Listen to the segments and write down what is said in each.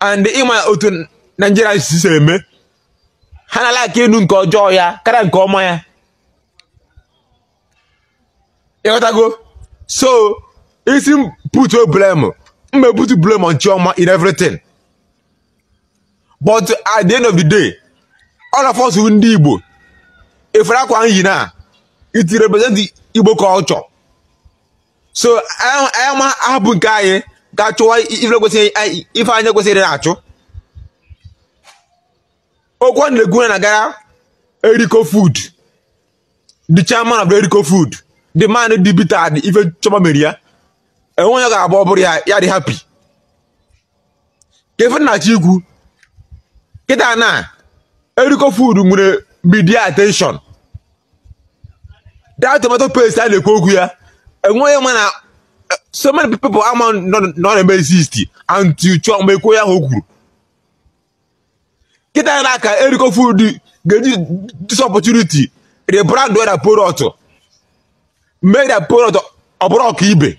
and ịma otu Naijiria si si eme ha na-alike ịnụ nke ọjọọ ya karịa nke ọma ya ịghọtago so ị sị m put blame m ma eput blame on Chioma in everything but at the end of the day all of us ndị Igbo ị fụrụ akwa m yi na it represent Igbo culture so anyị ma ahapụ nke anyị ga chụwa ife kwesịrị ife anyị kwesịrị ịna-achụ okwu m na-ekwu na-agara eriko food the chairman of eriko food the man dị bitter ife chioma mere ya enweghị onye ga-abụ ọ bụrụ ya ya dị happy ka ife m na-achọ ikwu kịta na eriko food nwere media attention that tomato paste a na-ekwu okwu ya enweghị ma na so many people ama na ọ na-eme exist until chioma ekwuo ya aha o kwuru kịta na ka eriko food ga-eji this opportunity rebrand their product mee their product ọ bụrụ ọka ibe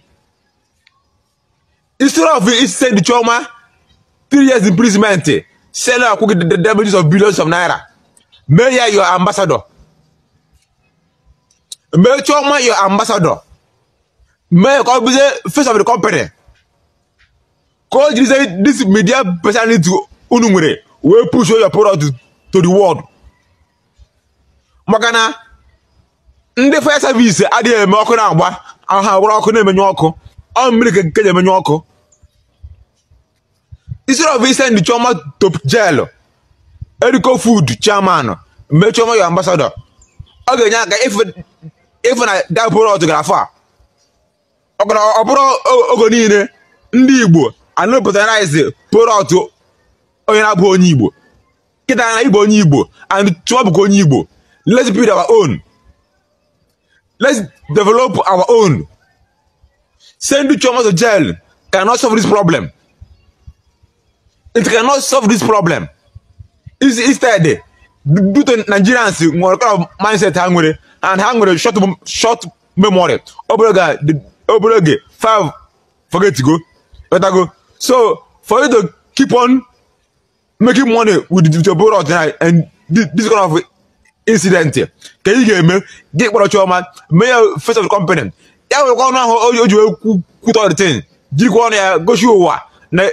instead of isend chioma three years imprisonment sị ya kwụọ gị the damages of billions of naira mee ya your ambassador mee chioma your ambassador mee ka ọ bụzie face of the company ka o jirizie this media personality unu nwere wee push your product to the world maka na ndị fire service adịghị eme ọkụ na-agba ha buru ọkụ na-emenyụ ọkụ ọ mmiri ka e ji emenyụ ọkụ instead of isend chioma to jail eriko food chairman mee chioma your ambassador ọ ga-enye aka ịfụ na that product gara far ọ bụrụ oge niile ndị igbo ana-apatronize product onye na-abụ onye igbo kịta na ịbụ onye igbo and chụọ bụkwa onye igbo let's build our own let's develop our own send chioma to jail cannot solve this problem it cannot solve this problem instead due to nigerians nwere kind of mindset ha nwere and ha nwere short short memory obere oge obere oge five forget go go so for you to keep on making money with the digital product and this kind of incident ka ị ga-eme gị kpọrọ chioma mee ya face of the company ya nwekwa ọnụ ahụ o ji wee kwutọ the thing jirikwa ọnụ ya gosi ụwa na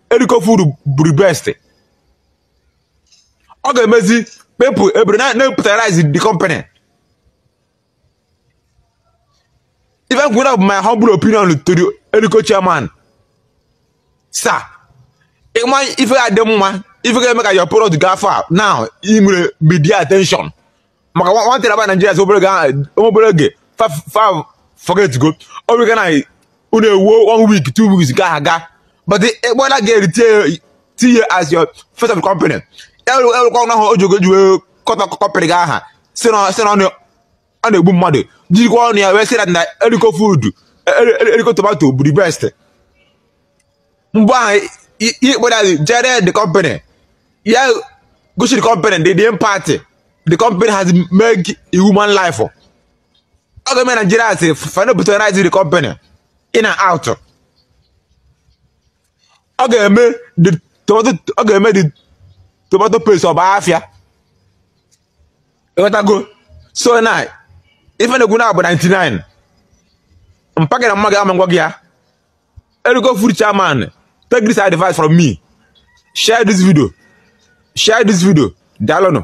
eriko food bụ the best ọ ga-emezi people ebere na-apatronize the company ife m kwuru bụ my humble opinion to the Eriko chairman sir ịma ife ga-adị mma ife ga-eme ka your product gaa far now ị nwere media attention maka nwantịrị aba Nigeria si obere obere oge fa forget go ọ bụ na unu ewuo one week two weeks ga aga but ị kpọ that girl tinye as your face of company werekwa ọnụ ahụ ọjọọ o ji wee kọtọ company gị aha sị na sị na ọ na- ọ na-egbu mmadụ jirikwa ọnụ ya wee sị na na Erisco Food eri- eri- Erisco tomato bụ the best mgbe ahụ ị kpọrọ anyị jere the company ya gosi the company the the impact the company has made in human life ọ ga-eme Nigerians fa na-patronize the company in and out ọ ga-eme the tomato ọ ga-eme the tomato paste ọ baa afịa ịghọtago so na ife m na-ekwu na-abụ 99 mpaka na mma gị ama ngwa gị ya Erisco Food chairman take this advice from me share this video share this video daalụnụ